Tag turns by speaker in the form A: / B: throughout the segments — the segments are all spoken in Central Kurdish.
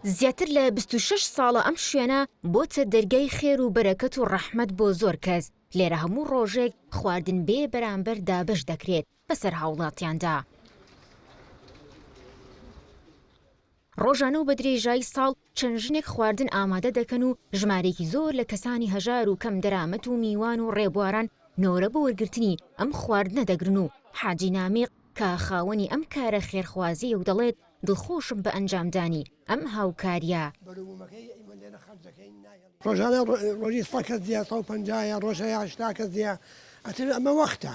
A: زیاتر لە بیست و شەش ساڵە ئەم شوێنە بۆتە دەرگای خێر و بەرەکەت و ڕەحمەت بۆ زۆر کەس، لێرە هەموو ڕۆژێک خواردن بێ بەرامبەر دابەش دەکرێت بەسەر هاوڵاتیاندا. ڕۆژانە و بە درێژایی ساڵ چەند ژنێک خواردن ئامادە دەکەن و ژمارەیەکی زۆر لە کەسانی هەژار و کەم دەرامەت و میوان و ڕێبواران نۆرە بۆ وەرگرتنی ئەم خواردنە دەگرن و حاجی نامیق کە خاوەنی ئەم کارە خێرخوازیەیە و دەڵێت دڵخۆشم بە ئەنجامدانی ئەم هاوکاریە. ڕۆژانە
B: ڕۆژی سەد کەس دێ، سەد و پەنجا یان ڕۆژێ هەشتا کەس دێ، ئەتر ئەمە وەختە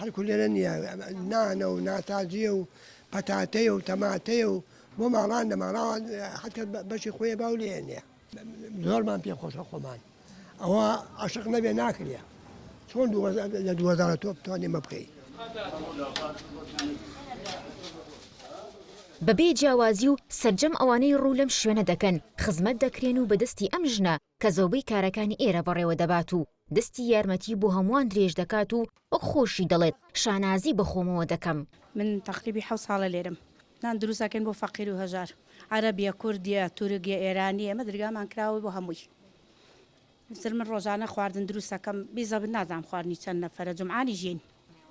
B: هەڵکو لێرە نیە نانە و ناتازیە و پەتاتەیە و تەماتەیە و بۆ ماڵان دە ماڵاوە حکە بەشی خۆیە باو لێ نیە زۆرمان پێ خۆشە خۆمان ئەوە عشق نەبێ ناکرێ چۆن لە دووەزارە تۆ بتوانێ مە بکەیت.
A: بەبێ جیاوازی و سەرجەم ئەوانەی ڕوو لەم شوێنە دەکەن خزمەت دەکرێن و بەدەستی ئەم ژنە کە زۆربەی کارەکانی ئێرە بەڕێوە دەبات و دەستی یارمەتی بۆ هەمووان درێژ دەکات و وەک خۆشی دەڵێت شانازی بە خۆمەوە دەکەم. من تەقریبی
C: حەوت ساڵە لێرەم. نان دروست ئەکەین بۆ فەقیر و هەژار. عەرەب یە، کورد یە، تورک یە، ئێرانی یە، ئێمە درگامان کراوە بۆ هەمووی. مثل من ڕۆژانە خواردن دروست ئەکەم، بی زەبت نازانم خواردنی چەند نەفەرە، جومعانیش یەین.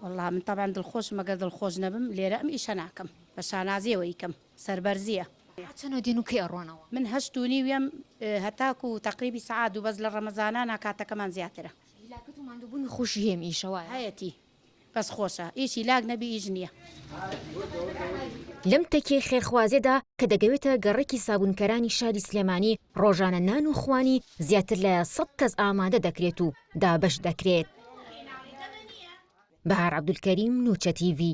C: وەڵڵا من تەبعەن دڵخۆشم، ئەگەر دڵخۆش نەبم لێرە ئەم ئیشە ناکەم. بە شانازییەوە ئیکەم. سەربەرزیە. تا چەند و دێن و
A: کەی ئەڕۆنەوە؟ من هەشت و نیو یەم
C: هەتاکو تەقریبی سەعات دوو بەس لە ڕەمەزانانا کاتەکەمان زیاترە. هیلاکت و ماندوبونی
A: خۆشی هەیە میشە وایە؟ هەیەتی
C: بەس خۆشە ئیش هیلاک نەبی ئیش نیە.
A: لەم تەکیەی خێرخوازێدا کە دەگەوێتە گەڕەکی سابونکەرانی شاری سلێمانی ڕۆژانە نان و خوانی زیاتر لە سەد کەس ئامادە دەکرێت و دابەش دەکرێت. بەهار عەبدولکەریم، نوچەتیڤی.